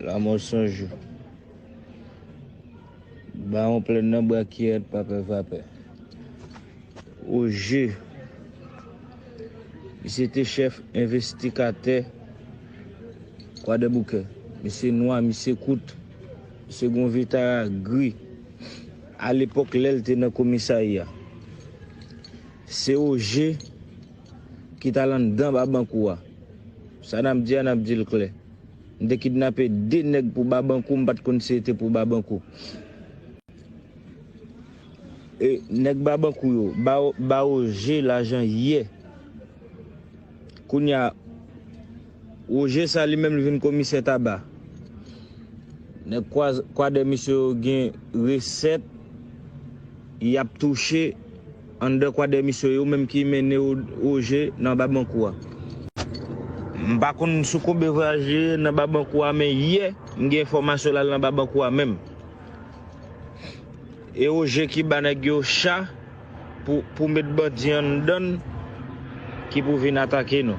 Lamò san jou. Bawon plèn nan bwa kiyèt pa pè vapè. O je! Misye te chèf envestikatè Kwadèboukè. Misye nwa, misye kout, misye gen yon vitara gri. Alepòk lè l te nan komisarya. Se o je! ki t al anndan babankou a. Sa n ap di a, n ap di l klè. M te kidnape de nèg pou babankou, m pa t konn si e te pou babankou. E nèg babankou yo ba Roger lajan yè. Kounye a, Roger sa li menm li vin komisè Taba. Nèg kwadèmisye yo gen resèt y ap touche. Anndan kwadèmisyon yo menm ki mennen Roger nan Babankou a. M pa konn sou konbe vwayaje nan Babankou a men yè m gen enfòmasyon l al nan Babankou a menm. E Roger ki ba nèg yo cha pou met bandi anndan n ki pou vin atake nou.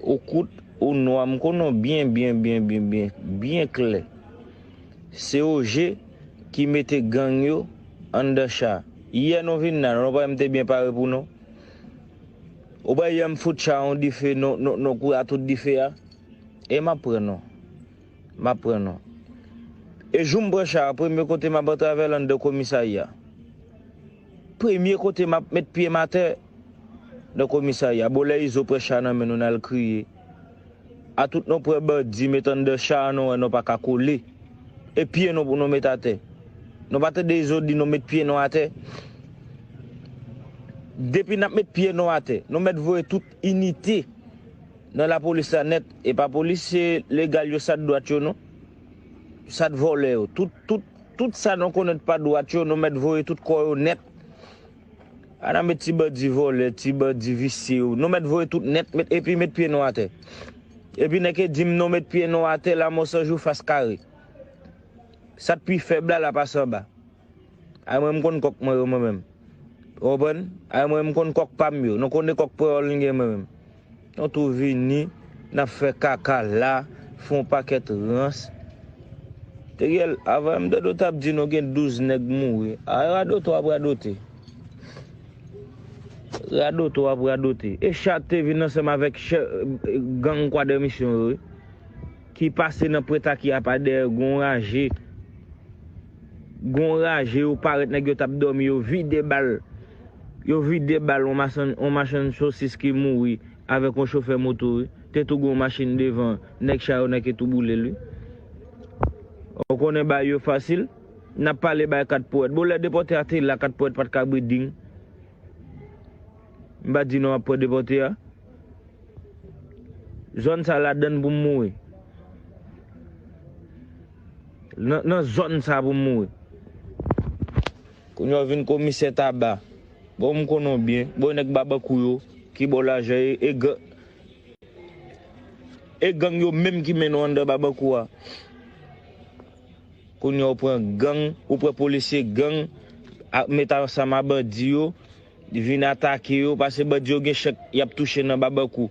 Ou kout, ou nwa, m konnen w byen byen byen byen byen, byen klè. Se OG ki mete gang yo anndan cha. Yè nou vin la, nou pa wè m te byen pare pou nou? Ou pa wè yè m fout cha yon dife, nou kouri a tout dife a? E m ap pran nou. M ap pran nou. E jou m pran cha a, premye kote m ap antre avè l anndan komisarya. Premye kote map met pyem atè nan komisarya bon lè izo pran cha nan men nou nal kriye a tout nou pran bandi met anndan cha a nou wè nou paka kole e pye nou pou nou met atè nou pa tande izo di nou met pye nou atè depi nap met pye nou atè nou mèt voye tout inite nan lapolis la nèt epa polisye legal yo sa dwat yo non. sat vòlè yo tout tout tout sa nou konnen t pa dwat yo nou mèt voye tout kò yo nèt a nan met ti bandi vòlè ti bandi visye yo nou mèt voye tout nèt met epi met pye nou atè epi nèk e dim nou met pye nou atè lamò sanjou fas kare sat pi fèb la la pa sanba. Ay mwen m konn kòk mwen yo mwen menm ou konprann ay mwen m konn kòk pam yo nou konne kòk pweyòl nou gen mwen menm nou tou vini nap fè kaka la fon pakèt rans Teriel avan m tande w tap di nou gen 12 nèg mouri a e radote wap radote radote wap radote e chak te vin ansanm avèk chè gang kwadèmisyon yo wi ki pase nan prèt a ki apa dèyè gon raje. Gon raje yo parèt nèg yo tap dòmi yo vide bal yo vide bal on masann on machann sosis ki mouri avèk on chofè moto wi te tou gon machin devan nèg cha yo nèg ki tou boulel wi ou konnen bay yo fasil nap pale bay 4 powèt bon lè depòte a te la 4 powèt pat ka bri ding m pa di non aprè depòte a zòn sa ladann poum mouri. Nan zòn sa pou m mouri. Kounya w vin komisè taba. Bon m konnen w byen. Bon e nèg babankou yo ki ba w lajan e e gang yo menm ki mennen w anndan babankou a. Kounya w pran gang, ou pran polisye gang met ansanm a bandi yo vin atake yo pase bandi yo gen chèk y ap touche nan babankou.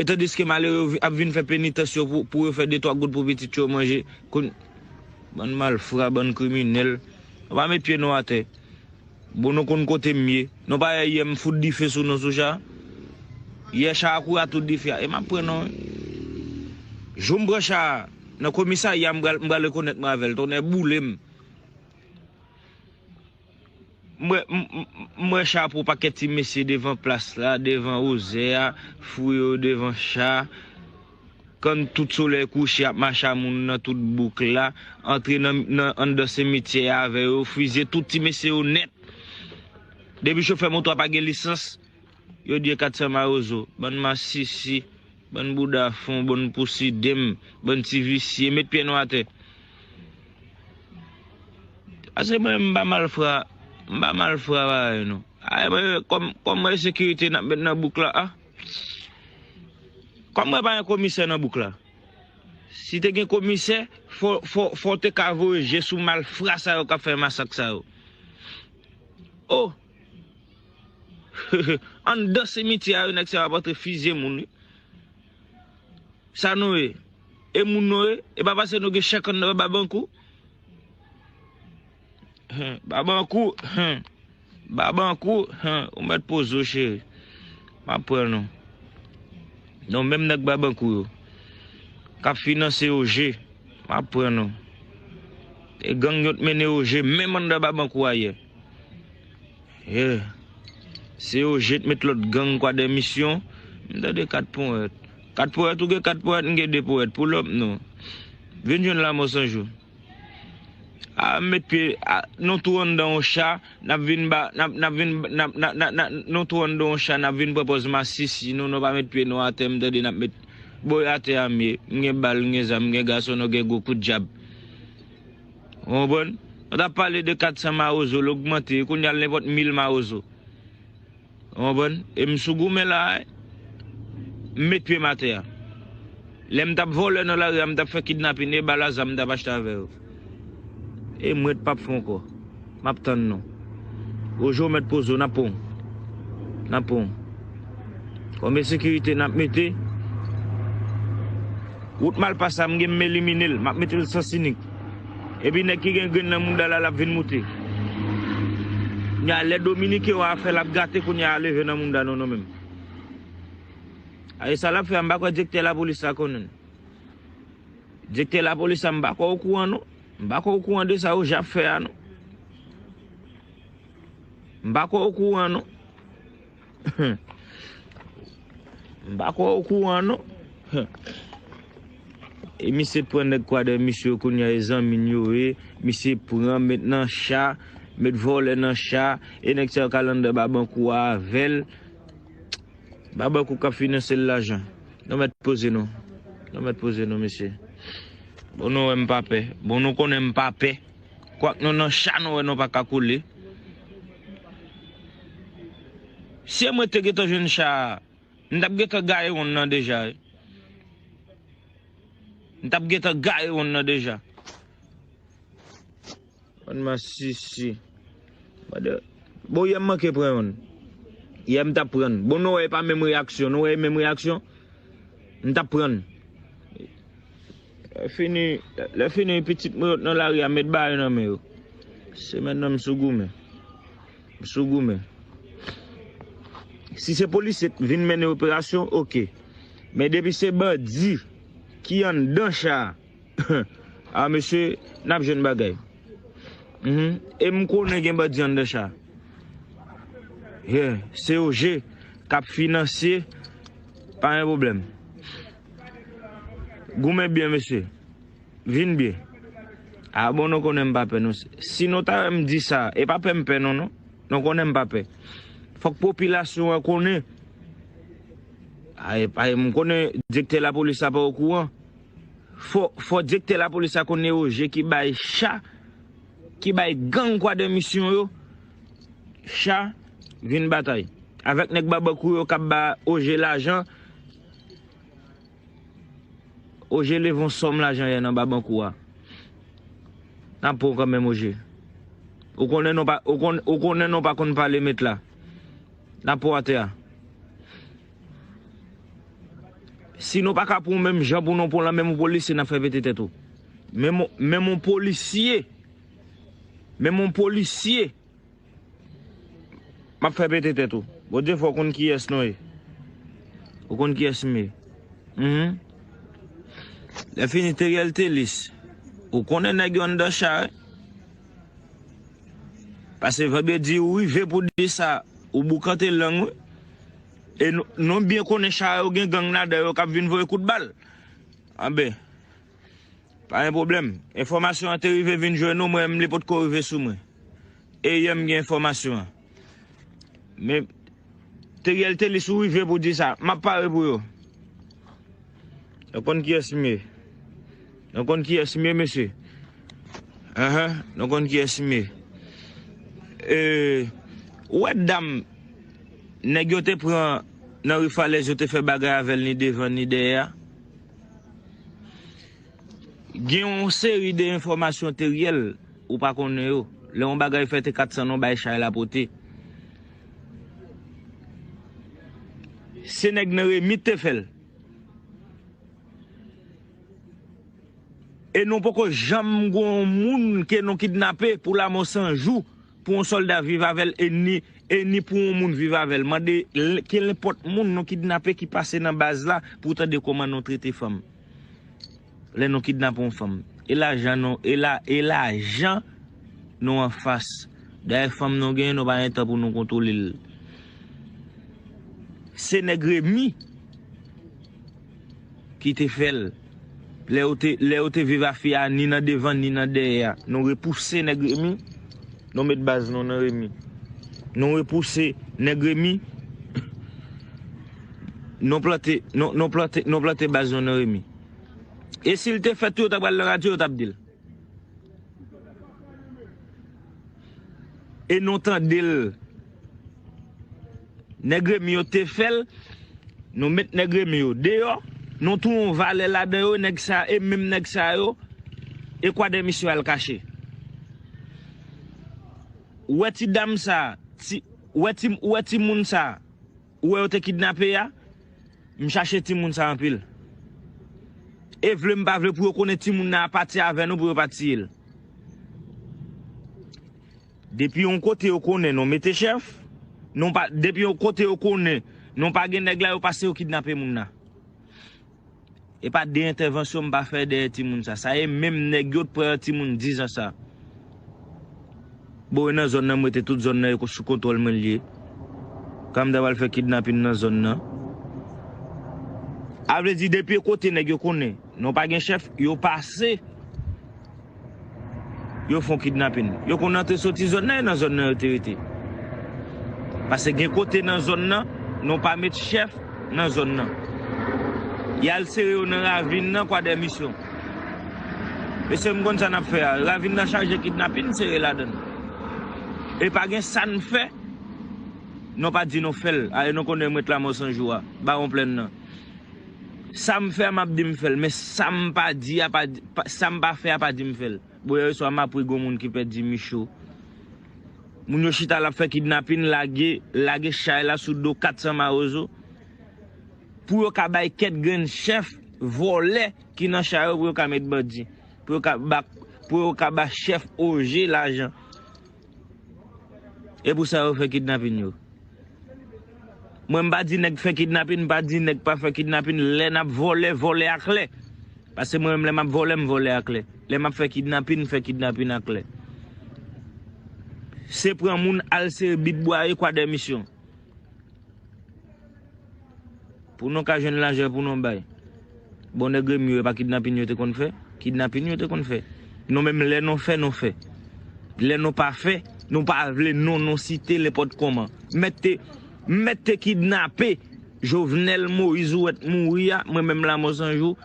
Etan deske malere yo ap vin fè penitans yo pou yo fè de twa goud pou pitit yo manje kon bann malfra bann kriminèl nou pa met pye nou atè bon nou konn kote m ye nou pa wè yè m fout dife sou nou sou cha yè cha a kou a tout dife a e m ap pran nou wi jou m pran cha a nan komisarya m pral rekonèt mwen avè l tonnè boule m. M wè chapo pakèt ti mesye devan plas la, devan ozè a, fou yo devan cha, kan tout solèy kouche ap mache a moun nan tout bouk la, antre nan anndan simityè a avè yo, fizye tout ti mesye yo nèt. Depi chofè moto a pa gen lisans, yo di e 400 mawozo. Bann masisi. Bann bouda fon bon pou sidem bann ti visye met pyè nou atè pase mwen mpa malfra mpa malfra pareil nou ay mwen kòm mwen sekirite nap met nan bouk la ah kòm mwen pa gen komisè nan bouk la si te gen komisè fòw te ka voye je sou malfra sa yo kap fè masak sa yo oh. Anndan simityè a yo nèg sa yo ap antre fizye moun wi. Sa nou ye? E moun nou ye? E pa pase nou gen chè kann nan men Babankou? Hum, Babankou, hum. Babankou, hum, ou mèt poze w cheri. M ap pran nou. Non menm nèg Babankou yo k ap finanse OG, m ap pran nou. E gang yo t mennen OG menm anndan Babankou ayè. Yeah. Se yo jet met lot gang kwa de misyon. M tande 4 poèt. 4 poèt ou gen 4 poèt m gen 2 poèt. Pull up non. Vin jwenn lamò san jou. A m met pye a nou tou anndan yon cha nap vin ba nap nap vin nap na na na nou tou anndan yon cha nap vin pran pòz masisi nou nou pa met pye nou atè m tande nap met boy atè a m ye m gen bal m gen zam m gen gason nou gen gwo kout djab. Ou konprann? Ou ta pale de 400 mawozo, l ogmante, kounya l nenpòt 1000 mawozo. Ou konprann? E m sou goumen la a, m met pye m atè a. Lè m t ap vòlè nan lari a, m t ap fè kidnapin, e bal a zam m t ap achte avè yo. E m ret pa p fè ankò. Map tann nou. Roger ou mèt poze w nan poun. Nan poun. Konbyen sekirite nap mete? Wout malpa sa m gen m elimine l. Map mete l sans inik. Epi nèg ki gen grenn nan mouda la lap vin moute. Kounye a lè Dominique wa fè lap gate kounye a leve nan mouda nou nou menm. Ae sa lap fè a m pa kwè direktè lapolis la konnen. Direktè lapolis la m pa kwè okouran non. M pa kwè ou kouran de sa Oja ap fè a non. M pa kwè ou kouran non. M pa kwè ou kouran non. E misye pran nèg kwadèmis yo kounye a e zanmi n yo ye. Misye pran met nan cha, met vòlè nan cha. E nèg sa yo k al anndan babankou a avè l. Baba kou kap finansel lajan. Nou mèt poze nou. Nou mèt poze nou mesye. Bon nou wèm pa pè. Bon nou konnen m pa pè. Kwak nou nan cha nou wè nou paka koule. Se mwen te gentan jwenn cha a. M tap gentan gaye wonn nan deja wi. M tap gentan gaye wonn nan deja. Bann masisi. Mande. Bon yè m manke pran yonn. Yè m tap prann. Bon nou wè e pa menm reyaksyon. Nou wè e menm reyaksyon? M tap prann. Lè fini, lè fini pitit mwen yo t nan lari a met bayo nan men yo. Se mètnan m sou goumen. M sou goumen. Si se polisye k vin mennen operasyon ok. Men depi se bandi ki anndan cha a. Ahh mesye nap jwenn bagay Humm e m konnen gen bandi anndan cha Yeah se yo je kap finansye pa gen pwoblèm Goumen byen mesye Vin byen Ahh bon nou konnen m pa pè non si nou ta wè m di sa e pa pè m pè non non nou konnen m pa pè fòk popilasyon an konnen Ahh m konnen direktè lapolis la pa okouran. Fò direktè lapolis la konn eoje ki bay cha ki bay gang kwadè misyon yo cha vin batay avèk nèg babankou yo kap ba oje lajan oje leve yon sòm lajan yè nan babankou a nap pranw kanmenm oje ou konnen non ou konnen non pa konn pale met la nap pranw atè a. Si nou paka pran w menm jan pou nou pran w la menm yon polisye nap fè pete tèt ou. Menm menm yon polisye menm yon polisye map fè pete tèt ou. Bondye fè w konn kiyès nou ye. Ou konn kiyès m ye. Hum. Lè fini Teriel Telis. Ou konnen nèg yo anndan cha wi. Pase vandredi ou rive pou di sa ou boukante lang wi. E nou byen konnen char yo gen gang ladan yo kap vin voye kout bal. Anben. Pa gen pwoblèm. Enfòmasyon an te rive vin jwenn nou, mwen menm li potko rive sou mwen. E yè m gen enfòmasyon an. Men Teriel Telus ou rive pou di sa. Map pare pou yo. Nou konn kiyès m ye? Nou konn kiyès m ye mesye? Ehe, nou konn kiyès m ye? Ou wè dam nèg yo te pran nan ri Falèz yo te fè bagay avè l ni devan ni dèyè a? Gen yon seri de enfòmasyon teryèl ou pa konnen yo. Lè yon bagay fèt e 400 non bay chay lapote. Se nèg nan Remi k te fè l. E nou poko janm gon moun ke nou kidnape pou lamò san jou pou yon solda viv avèl e ni pou yon moun viv avèl mande kelenpòt moun nou kidnape ki pase nan baz la pou tande koman nou trete fanm. Lè nou kidnape yon fanm. E lajan nou e lajan nou an fas. Dayè fanm nou genyen nou pa gen tan pou nou kontwole l. Se nèg Remy ki te fè l. Lè yo te viv a fi a ni nan devan ni nan dèyè a. Nou repouse nèg Remy. Nou met baz nou nan Remy. Nou repouse nèg Remy. Nou plante baz nou nan Remy. E sil te fèt tou yo ta pral nan radyo yo tap dil. E nou tandel. Nèg remi yo te fèl, nou met nèg remi yo deyò, nou tou yon valè ladan yo, nèg sa e menm nèg sa yo, e kwa dè misye al kache. Ou wè ti dam sa, ti, ou wè ti, ou wè ti moun sa. ou wè yo te kidnape ya m chache timoun sa anpil e vle m pa vle pou yo konnen timoun nan a pati avè nou pou yo pa tiye l depi yon kote yo konnen nou mete chèf depi yon kote yo konnen nou pa gen nèg la yo pase yo kidnape moun nan. E pa de entèvansyon m pa fè dèyè timoun sa. Sa e menm nèg yo t pran yon timoun 10 ans sa. Bon e nan zòn nan m rete tout zòn nan e sou kontwòl mwen l ye. Kan m ta pral fè kidnapin nan zòn nan. A vle di depi e kote nèg yo konnen non pa gen chèf yo pase. yo fon kidnapin. Yo konn antre soti zòn nan e nan zòn nan yo te rete. Pase gen kote nan zòn nan, nou pa met chèf nan zòn nan. Y al sere yo nan ravin nan kwa dè misyon. Mesye m konn sa nap fè a. Ravin nan chaje kidnapin sere ladan. E pa gen sa n fè, nou pa di nou fè l. A e nou konnen m ret lamò sanjou a, bawon plenn nan. Sam fè a map di m fèl men sam pa di a pa di sam pa fè a pa di m fèl bon yè swa map ri gon moun ki pèdi Michou moun yo chita lap fè kidnapin lage lage chay la sou do 400 mawozo pou yo ka bay kèt grenn chèf vòlè ki nan chay yo pou yo ka met bandi pou yo ka ba pou yo ka ba chèf oje lajan. E pou sa yo fè kidnapin yo. Mwen m pa di nèg fè kidnapin, m pa di nèg pa fè kidnapin. Lè n ap vòlè, vòlè aklè. Pase mwen menm lè m ap vòlè, m vòlè aklè. Lè m ap fè kidnapin, m fè kidnapin aklè. Se pran moun al sere bit bwaye kwadèmisyon. Pou nou ka jwenn lajan pou nou bay. Bon nèg remi yo e pa kidnapin yo te konn fè? Kidnapin yo te konn fè. Nou menm lè nou fè nou fè. Lè nou pa fè, nou pa vle non nou site nenpòt kòman. M mèt te m mèt te kidnape Jovenel Moïse ou wè t mouri a, mwen menm Lamothe Sanjou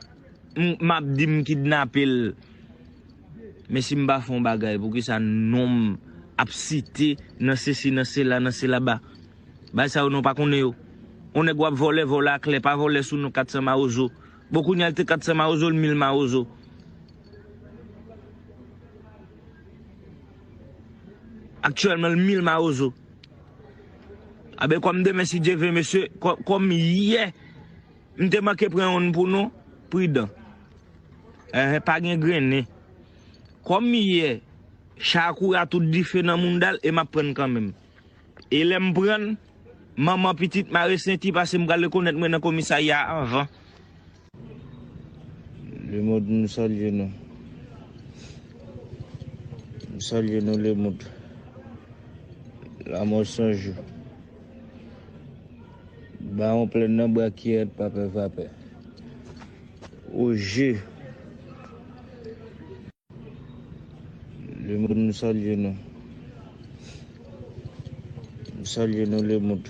m ap di m kidnape l. Men si m pa fè yon bagay poukisa non m ap site nan sesi nan sela nan sela ba Bagay sa yo non pa konnen yo On nèg w ap vòlè vòlè a klè pa vòlè sou non 400 mawozo Bon kounye a l te 400 mawozo l 1000 mawozo Aktyèlman l 1000 mawozo Anben kòm demen si Dye vle mesye kòm yè M te manke pran yon n pou nou, pridan. Ehe pa gen grennen. Kòm yè, Shakoura tout dife nan mounda l e m ap pran n kanmenm. E lè m pran n, manman pitit mare senti pase m pral rekonèt mwen nan komisarya a anvan. Lemond m salye nou. M salye nou Lemond. Lamò san jou. Baron plen nan brakyè pa pè vapè o je le moun nou salye nou nou salye nou le moun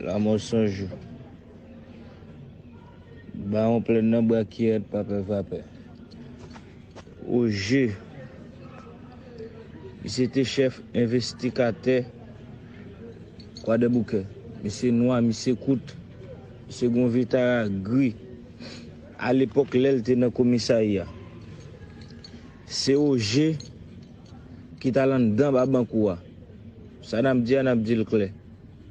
lamò san jou Baron plen nan brakyè pa pè vapè. O J. Li se te chèf envestikatè Kwadèboukè. Misye nwa, misye kout, misye gen yon vitara gri. A lepòk lè l te nan komisarya, se O J ki t al anndan Babankou a. Sa n ap di a, n ap di l klè.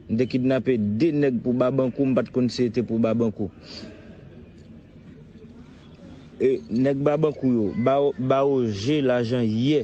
M te kidnape de nèg pou Babankou, m pa t konn si se te pou Babankou. Nèg babankou yo ba yo je lajan yè.